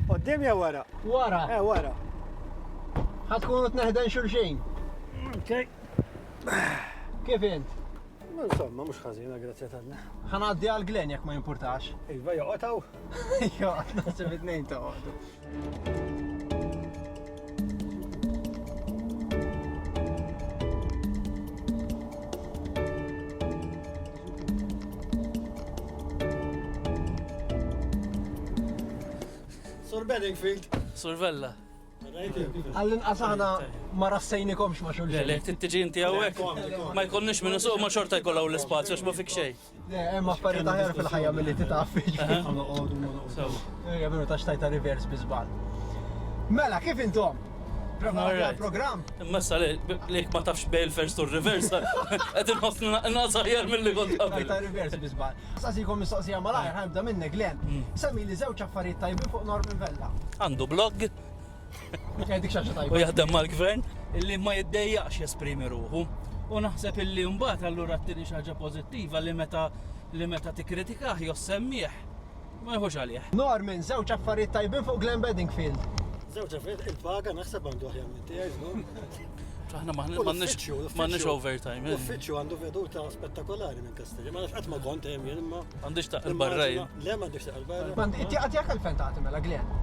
Qoddim jew wara? Wara. Eh, wara. Ħatkunu tneħden xulxin. Okay. Kif int? Insomma, mhux ħażina, grazzja tanna. Ħanaddi għal Glen jekk ma jimpurtax. Iva joqgħodhaw. Jo, naħseb it-tnejn toqgħodu. Sur Bedingfield. Sur Vella. Għallin qasana ma rassejnikomx ma xulxin. Le, tiġi inti għawek. Ma jkollniex minnu suq ma xorta jkollaw l-spazju, ma fik xej. Le, hemm affarijiet aħjar fil-ħajja milli titgħaffi. Hija veru ta' xtajta reverse bi żball. Mela, kif intom? Prova l-programm. Imma sa li lek ma tafx bej il-first u r-reverse. Qed inħossni naqnaqs aħjar milli kont qabel. Tajta reverse bi żball. Saqsikom mistoqsija malajr, ħanibda minnek, Glenn. Semmi li żewġ affarijiet tajbin fuq Norman Vella. Għandu blog, U jaħdem mal-gvern illi ma jiddejjaqx jesprimi ruħu. U naħseb illi mbagħad allura t-tieni xaġa pożittiva li meta li meta tikkritikah jew semmih ma jħux għalih. Norman, żewġ affarijiet tajbin fuq Glenn Bedingfield. Żewġ affarijiet il-paga naħseb għandu aħjar minn tiegħi żgur. Aħna m'għandniex overtime. Eh. Uffiċċju għandu veduta spettakolari minn Kastilja. Ma nafx qatt ma kont hemm jien imma. Għandix taqil barra Le m'għandix taqil barra. Għandi tiegħek għalfejn tagħti mela Glenn.